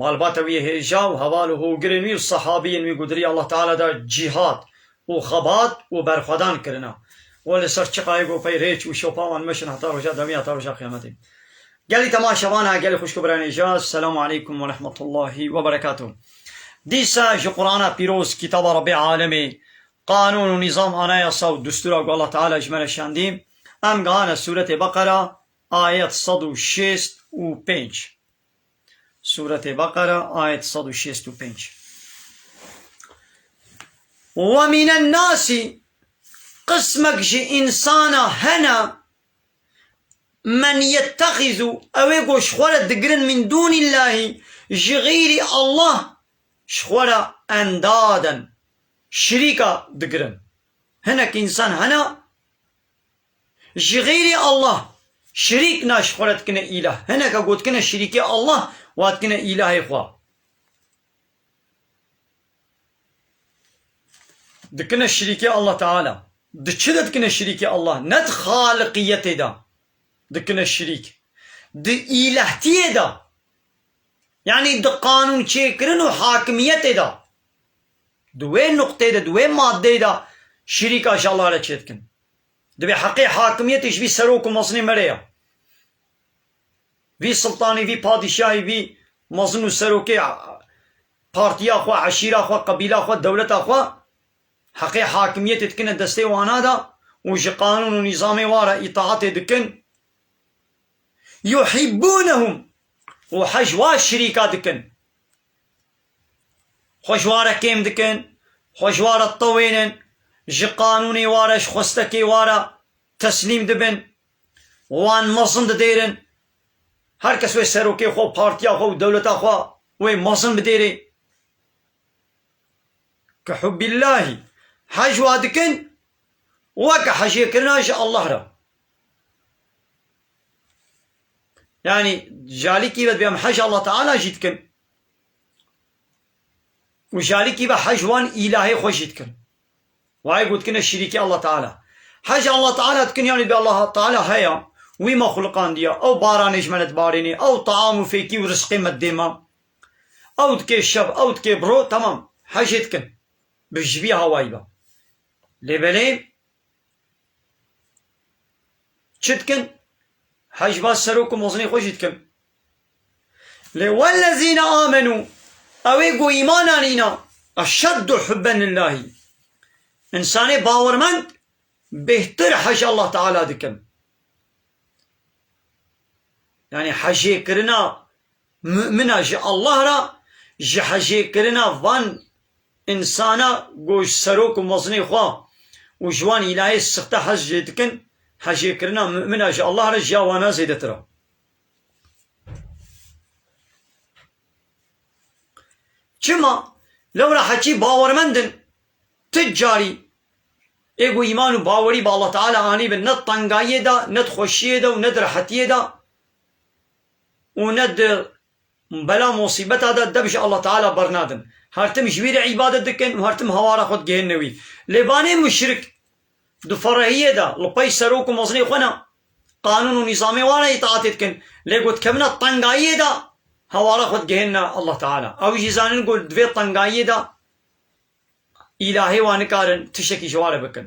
Malbata wî hêja û heval û hogirên wî û sehabiyên wî gudirî Allah Teala de cîhad û xebat û berxwedan kirina. We li ser çiqayê gopey rê çû, şopa wan meşin heta roja dewî heta roja qiyametê. Gelî tema şevan e, gelî xwişk û biran hêja, Selamu Aleykum Werehmetullahî Weberekatuh. Dîsa ji Qurana pîroz, kitaba Rebbê Alemê, qanûn û nîzam, anayasa û distûra ku Allah Teala ji me re şandî, em gehane sûretê Beqera, ayet sed û şêst û pênc. Sûretê Beqere, ayet sed û şêst û pênc. Wa mîne nasî, qismek ji însana hene, men yettexîzû, ew ê ku ji xwe re digirin mîn dûnîllahî, ji xeyrî Allah, ji xwe re endaden, şirîka, digirin. Hinek însan hene, Ji xeyrê Allah şirîk na ji xwe re dikine îlah. Hineke ku dikine şirîkê Allah wa dikine îlahê xwe. Dikine şirîkê Allah Teala. Di çi de dikine şirîkê Allah? Ne di xaliqiyetê de dikine şirîk. Di îlehtiyê de yanî di qanûnçêkirin û hakimiyetê de. Di wê nuqteyê de, di wê maddeyê de şirîka ji Allah re çêdikin. Divê heqê hakimiyetê ji vî serok û mezinê mere ya. Vî siltanî, vî padîşahî, vî mezin û serokê partiya xwe, eşîra xwe, qebîla xwe, dewleta xwe heqê hakimiyetê dikine destê wana de û ji qanûn û nîzamê wan re îtaatê dikin. Yuhîbûnehûm û hej wa şirîka dikin. Xwe ji ware kêm dikin, xwe ji ware tewênin, ji qanûnê ware, ji xwestekê ware teslîm dibin, wan mezin didêrin. Her kes wê serokê xwe û partiya xwe û dewleta xwe wê mezin bidêrê. Ke hubbillahî hej wa dikin, weke hejê kirina ji Allah re. Yanî jalîkî ve dibê em hej Allah Teala jî dikin û jalîkî ve hej wan îlahê xwe jî dikin. Wayê gotikine şirîkê Allah Teala. Hej Allah Teala dikin yanî dibê Allah Teala heya, wî me xuluqandiya, ew baranê ji me re dibarênê, ew taam û fêkî û risqê me didê me, ew dikê şev, ew dikê bi roj, temam, hejê dikin. Bi ji vî hawayî ve. Lê belê, Çi dikin? Hejba serok û mezinê xwe jî dikin. Lê wellezîne amenû ew ê ku îman anîna eşeddu hubben lillahî. Însanê bawermend bêhtir hej Allah Teala dikin. Yanî hejê kirina Mumina ji Allah re ji hejêkirina van insana ku ji serok û mezinê xwe û ji wan îlahê sixte hez jê dikin, hejêkirina mumina ji Allah re ji ya wana zêdetir e. Çima? Lewra heqî bawermend in, ti carî ê ku îman û bawerî bi Allah Teala anîbin ne di tengayiyê de, ne di xweşiyê de û ne di rehetiyê de û ne di bela mosîbeta de dev ji Allah Teala bernadin. Her tim ji wî re îbadet dikin û her tim hawara xwe digihîne wî. Lê banê muşrik di ferehiyê de li pey serok û mezinê xwe ne, qanûn û nîzamê wan re îtaatê dikin, lê ku dikevine tengayiyê de hawara xwe digihîne Allah Teala. Ew jî zanin ku di vê tengayiyê de îlahê wan nikarin tiştekî ji wan re bikin.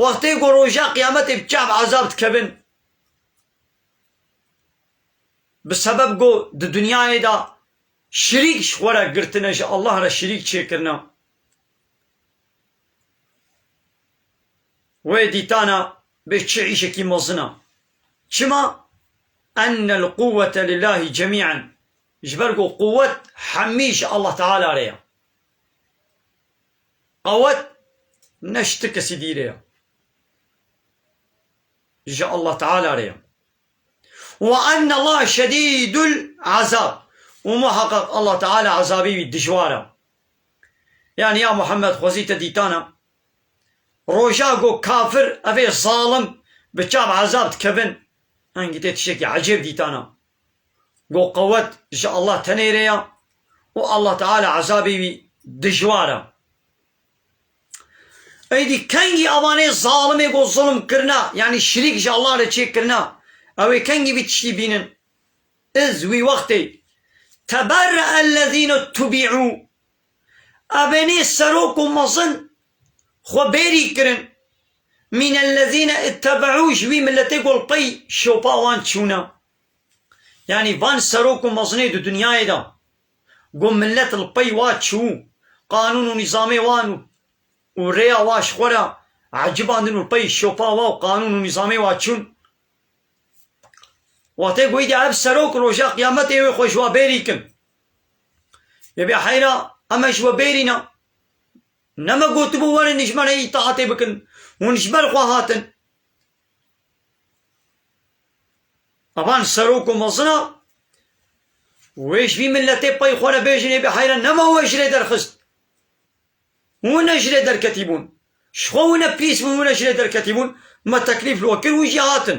Wextê ku roja qiyametê bi çav ezab dikevin bi sebeb ku di dinyayê de şirîk ji xwe re girtine ji Allah re şirîk çêkirine wê dîtana bê çi îşekî mezin e. Çima? Enel quwwete lillahî cemî'en ji ber ku quwwet hemî ji Allah Teala re ye. Qewet ne ji ti kesî dî re ye. Ji Allah Teala re ye. Wa enne Allahe şedîdul ezab. Û muheqeq Allah Teala ezabê wî dijwar e. Yanî ya Muhemmed xwezî te dîtan e. Roja ku kafir evê zalim bi çav ezab dikevin, hingî tê tiştekî ecêb dîtan e. Go qewet ji Allah tenê re ya û Allah Teala ezabê wî dijwar e. Êdî kengî avanê zalimê go zulm kirina yanî şirîk ji Allah re çêkirina ew ê kengî vî tiştî bînin. Iz wî wextê Teberre'el lezîne tubî'û Abenê serok û mezin xwe bêrî kirin. Mînellezîne îttebeû ji wî miletê gol qey şopa wan çûna. Yanî van serok û mezinê di dinyayê de ku milet li pey wa çû, qanûn û nîzamê wan û rêya wa ji xwe re ecibandin û li pey şopa wa û qanûn û nîzamê wa çûn. Watê ku îdî ev serok roja qiyametê wê xwe ji wa bêrî kin. Lê vê heyra em e ji we bêrîn e. Ne me gotibû werin ji me re îtaatê bikin, hûn ji ber xwe hatin. Evan serok û mezin e, wê ji vî miletê pey xwe re bêjin ê vê heyra ne me we ji rê derxist. Hûn ne ji rê derketîbûn. Ji xwe wina pîs bû hûn ne ji rê derketîbûn, me teklîf li we kir hûn jî hatin.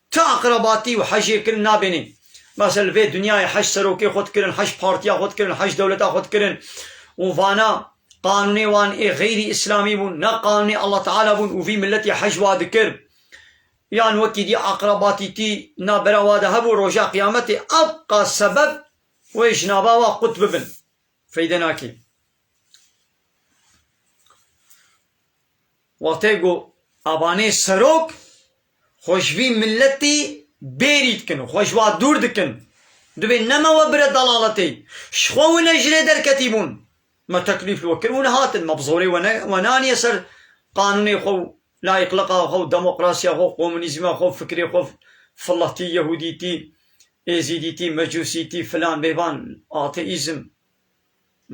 Ti aqrabatî û hejê kirin nabênê. Bes e li vê dinyayê heşt serokê xwe dikirin, heşt partiya xwe dikirin, heşt dewleta xwe dikirin û vana qanûnê wan ê xeyrî îslamî bûn, ne qanûnê Allah Teala bûn û vî miletî hej wa dikir. Yan wekî dî aqrabatî tî navbera wa de hebû roja qiyametê ev qa sebeb wê ji nava wa qut bibin. Feyde nake. Wextê ku abanê serok xwe ji vî miletî bêrî dikin û xwe ji wa dûr dikin, dibê neme we bire dalaletê. Ji xwe û ne ji rê derketî bûn. Me teklîf li we kir û ne hatin. Me bi zorê we ne we neaniye ser qanûnê xwe û layîqliqa xwe û demokrasiya xwe û komûnîzma xwe û fikrê xwe filatî, yehûdîtî, êzîdîtî, mecûsîtî, filan bêvan, ateîzm.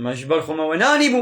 Me ji ber xwe me we neanîbû.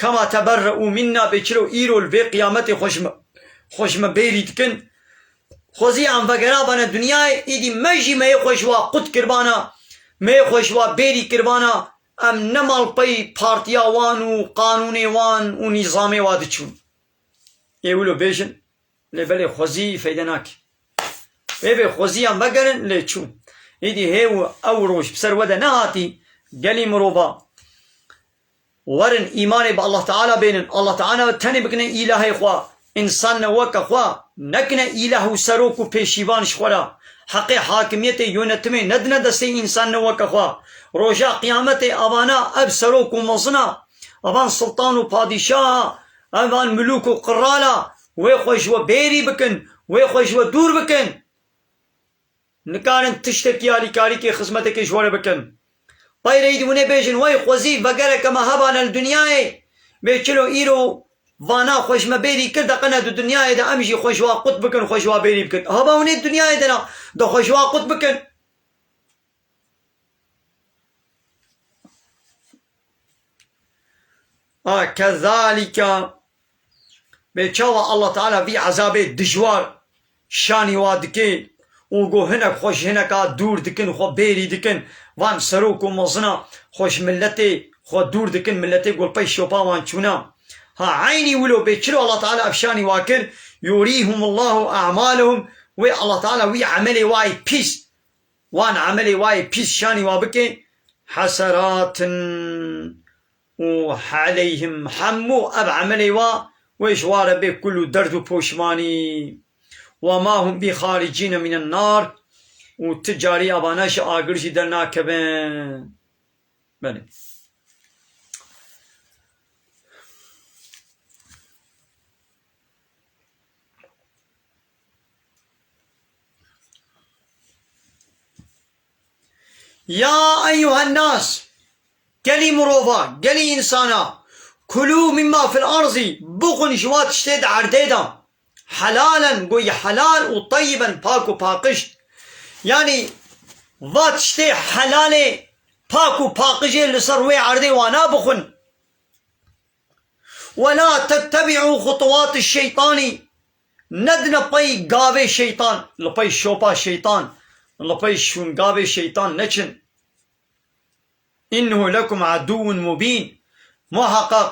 Kama teberre û minna bê çiro îro li vê qiyametê xwe ji xwe ji me bêrî dikin. Xwezî em vegerabane dinyayê, îdî me jî meyê xwe ji wa qut kiribana, meyê xwe ji wa bêrî kiribana, em ne malpey partiya wan û qanûnê wan û nîzamê wa diçûn. Ê wilo bêjin, lê belê xwezî feyde nake. Ê bê xwezî em vegerin, lê çû. Îdî hê û ew roj bi ser we de nehatî, gelî mirova Werin îmanê bi Allah Teala bênin, Allah Teala tenê bikine îlahê xwe, însan ne weke xwe nekine îlah û serok û pêşîvan ji xwe re, heqê hakimiyetê yonetimê nedine destê însan ne weke xwe, roja qiyametê evana ev serok û mezin a, evan siltan û padîşah a, evan milûk û qral a, wê xwe ji we bêrî bikin, wê xwe ji we dûr bikin. Nikarin tiştekî alîkarîkê xizmetekê ji we re bikin. Qeyreyî di winê bêjin wey xwezî vegereke me hebane li dinyayê bê çilo îro vana xwe ji me bêrî kir deqene di dinyayê de em jî xwe ji wa qut bikin xwe ji wa bêrî bikin haba winê di dinyayê de ne de xwe ji wa qut bikin. Kezalîka bê çawa Allah Teala vî ezabê dijwar şanî wa dike û got hinek xwe ji hineka dûr dikin û xwe bêrî dikin, van serok û mezina xwe ji miletê xwe dûr dikin, miletê golpey şopa wan çûna. Ha eynî wilo bê çiro Allah Teala ev şanî wa kir, yurîhumullahu e'malehum wê Allah Teala wî emelê wayî pîs Wan emelê wa yê pîs şanî wa bikê heseratn û heleyhim hemû ev emelê wa wê ji wa re bê kul û derd û poşmanî. Wa ma hûn bî xaricî nemînin nar û ti carî avana ji agir jî dernakevin. Belê. Ya eyyuhennas, gelî mirovan, gelî însanan, kulû mîmma fil erzî, bixwin ji wa tiştê di erdê de, helalen goy helal û teyyiben pak û paqij. Yanî va tiştê helalê, pak û paqijê li ser wê erdê wana bixwin. Wela tettebi'u xutwati şeytanî, nedine pey gavê şeytan, li pey şopa şeytan, li pey şûngavê şeytan neçin. Înnehu lekum edûwun mubîn, muheqeq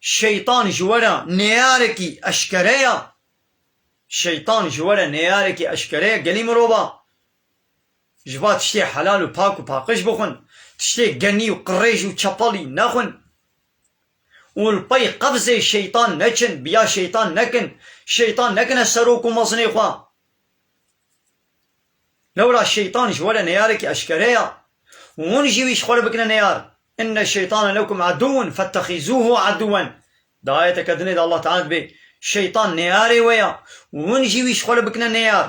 şeytan ji we re nêyarekî eşkere ye. Şeytan ji we re nêyarekî eşkere ye gelî mirova. Ji ba tiştê helal û pak û paqij bixwin, tiştê genî û qirêj û çepalî nexwin. û li pey qefzê şeytan neçin, biya şeytan nekin, şeytan nekine serok û mezinê xwe. Lewra şeytan ji we re neyarekî eşkere ya û hûn jî wî ji xwe re bikine neyar. Inne şeytane lekum edûwun fettexîzûhu edûwen di ayeteke dinê de Allah Teala dibê, Şeytan neyarê we ya û hûn jî wî ji xwe re bikine neyar.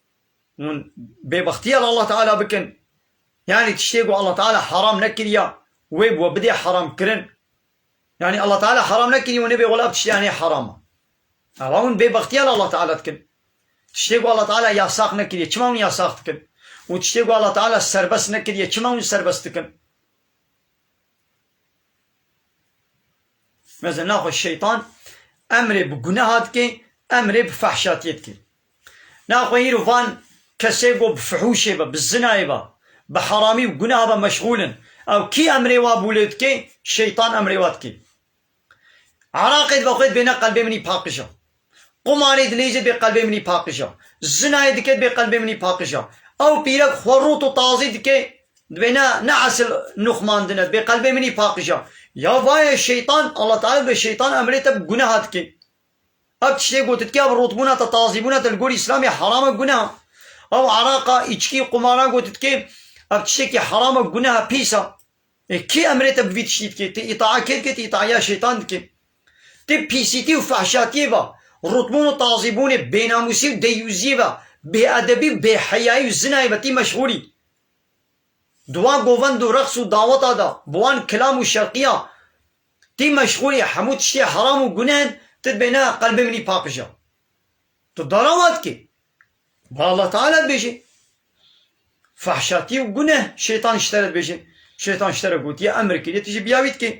Hûn bêbextiya li Allah Teala bikin, yanî tiştê ku Allah Teala heram nekiriya wê bi we bidê heramkirin, yanî Allah Teala heram nekiriye û nebe wela bi tiştê anê heram e. Ava hûn bêbextiya li Allah Teala dikin. Tiştê ku Allah Teala yasax nekiriye, çima hûn yasax dikin? Û tiştê ku Allah Teala serbest nekiriye, çima hûn serbest dikin? Mezin naxwe şeytan emrê bi guneha dike, emrê bi fehşatiyê dike. Na xwe îro van kesê ku bi fihûşê ve, bi zinayê ve, bi heramî û gunah ve meşxûl in. Ew kî emrê wa bû lê dike? Şeytan emrê wa dike. Iraqê dibe xwe dibêne qelbê min î paqij e. Qumarê dinêje dibê qelbê min î paqij e. Zinayê dike dibê qelbê min î paqij e. Ew pîrek xwe rût û tazî dike dibê ne ne esil nûxmandin e dibê qelbê min î paqij e. Ya vaye şeytan, Allah Teala dibe şeytan emrê te bi gunaha dike. Ev tiştê gotin ke ev rotbûna te, tazîbûna te li gorî îslamê heram e, guneh e. Ew eraqa, îçkî, qumaran gotin ke ev tiştekî heram e, guneh e, pîs e. Lê kê emrê te bi vî tiştî dike? Ti îtaa kê dike? Ti îtaiya şeytan dike. Ti pîsîtî û fehşatiyê ve, rotbûn û tazîbûnê, bênamûsî û deyyûziyê ve, bêedebî û bêheyayî û zinayê ve tî meşxûl î. Di wan govend û reqs û daweta de, bi wan kilam û şerqiya Tî meşxûlî hemû tiştê heram û gunehn ti dibêne qelbê minî paqija. Tu dara wa dikê. Ba Allah Teala dibêje. Fehşatî û guneh şeytan ji te re dibêje. Şeytan ji te re gotiye emr kiriye tu jî biya wî dikê.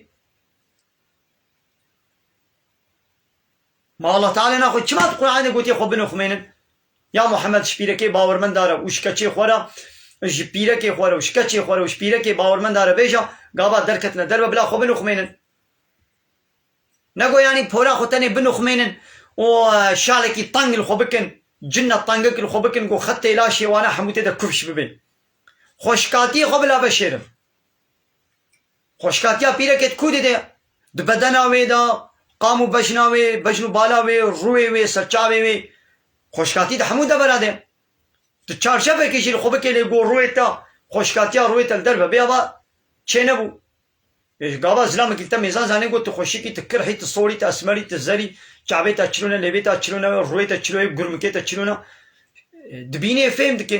Ma Allah Teala na xwe çima di Qur'anê de gotiye xwe bino ximênin? Ya Muhammed şpîrekê bawermenda re û şikeçê xwe re ji pîrekê xwe re û şikeçê xwe re û ji pîrekê bawermenda re bêje, gava derketine derve bila xwe binuxmênin. Nego yanî pora xwe tenê binuxmênin û şalekî teng li xwe bikin, cinna tengek li xwe bikin ku xetê laşê wan e hemû tê de kufş bibe. Xweşikatiyê xwe bila veşêrin. Xweşikatiya pîrekê di ku de de? Di bedena wê de, qam û bejna wê, bejn û bala wê, rûyê wê, serçavê wê. Xweşikatî di hemû devera de. Tu çarçevekê jî li xwe bikê lê ku rûyê te, xweşikatiya rûyê te li derve bê ava çênebû. Ji gava zilamekî li te mêzan zanîn ku tu xweşikî, tu kirhî, tu sorî, tu esmerî, tu zerî, çavê te çilo ne, lêvê te çilo ne, rûyê te çilo ye, gurmikê te çilo ne. Dibînê, fêm dikê.